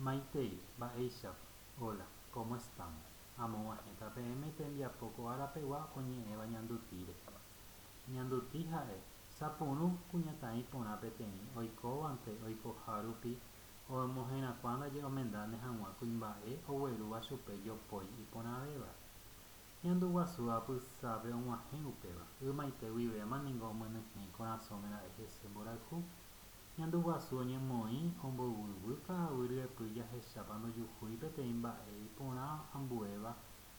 Maitei, mba'éichapa? Hola, cómo están? Amog̃uahẽta peẽme tembiapo ko árapegua oñe'ẽva ñanduti rehe. Ñanduti ha'e, sapurũ kuñataĩ porã peteĩ oikóvante oikoha rupi omoherakuã ndaje omendáne hag̃ua kuimba'e oguerúva chupe jopói iporãvéva. Ñandu guasu apysápe og̃uahẽ upéva, ymaite guivéma ningo omyenyhẽ ikorasõme ra'e hese mborayhu. Ñandu guasu oñemoĩ omboyvy ka'aguy ryepy jahechápa ndojuhúi peteĩ mba'e iporã ambuéva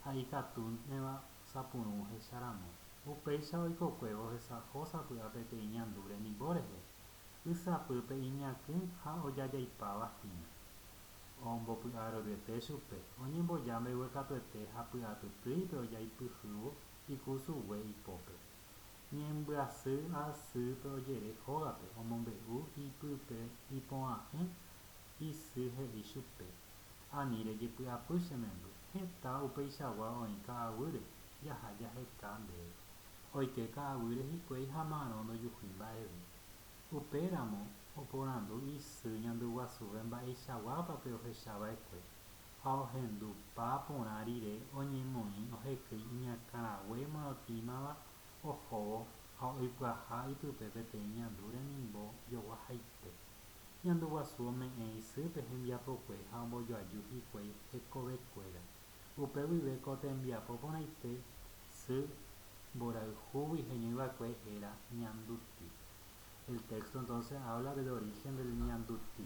ha ikatúnema osapurũ ohecha ramo. Upéicha oikokuévo ohesa'o sapy'a peteĩ ñandu remimbo rehe, y sapýpe iñakỹ ha ojajaipáva hína. Ombopy'a roryete chupe, oñemboja mbeguekatuete ha py'atytýipe ojaipyhývo ikusugue ipópe. Ñembyasy asýpe ojere ógape, omombe'u ipype ipo'a'ỹ isy he'i chupe, Ani rejepy'apy che memby, heta upeichagua oĩ ka'aguýre, jaha jaheka ndéve. Oike ka'aguýre hikuái ha marõ ndojuhúi mba'eve. Upe ramo oporandu isy ñanduguasúpe mba'eichaguápa pe ohecha va'ekue, ha ohendu pa porã rire oñemoĩ ohekýi iñakãrague morotĩmava ohóvo ha oipyaha ipype peteĩ ñandu remimbo jogua haite. Ñandu guasu ome'ẽ isýpe hembiapokue ha ombojoaju hikuái hekove kuéra. Upe guive ko tembiapo porãite sy mborayhúgui heñói va'ekue héra ñanduti. El texto entonces habla del origen del ñanduti.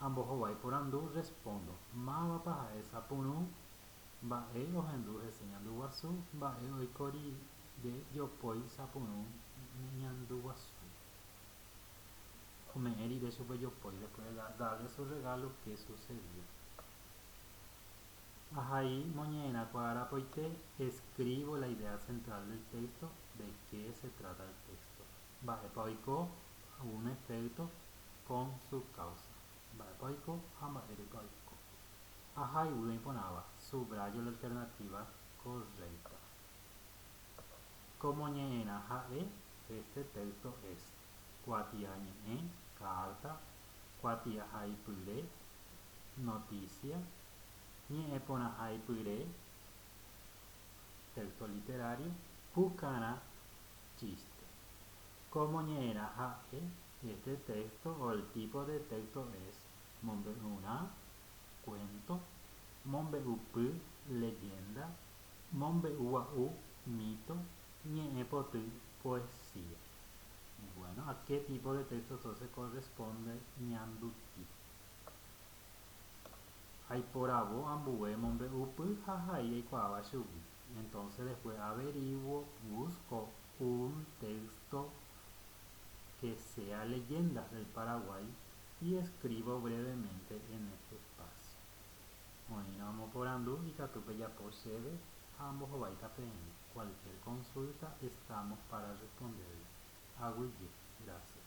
Ambohovái porandu respóndo, Mávapa ha'e sapurũ? Mba'e ohendu hese ñandu guasu? Mba'e oiko rire jopói sapurũ ñandu guasu? Ome'ẽ rire chupe jopói después de darle su regalo qué sucedió? Ahai moñe'ẽrã kua arapoite escribo la idea central del texto, de qué se trata el texto? Mba'épa oiko? Ogume pleito con su causa. Mba'épa oiko ha mba'érepa oiko. Ahayhu oĩporãva, subrayo la alternativa correcta. Ko moñe'ẽrã ha'e este texto es, kuatia ñe'ẽ, carta, kuatia haipyre, noticia, ñe'ẽporãhaipyre, texto literario, pukarã, chiste. Kómo ñe'ẽrã ha'e este téxto o el típo de téxto es mombe'urã, kuénto, mombe'upy, leggénda, mombe'u gua'u, míto, ñe'ẽ poty, poesía. Bueno, a qué tipo de texto entonces corresponde ñanduti? Aiporavo ambue mombe'upy ha hai aikuaáva chugui. Entonce después averiguo, busco un texto que sea Leyendas del Paraguay y escribo brevemente en este espacio. Oĩrõ amoporandu ikatu pejapo chéve ha ambohováita peẽme. Cualquier consulta estamos para responderle. Aguyje. Gracias.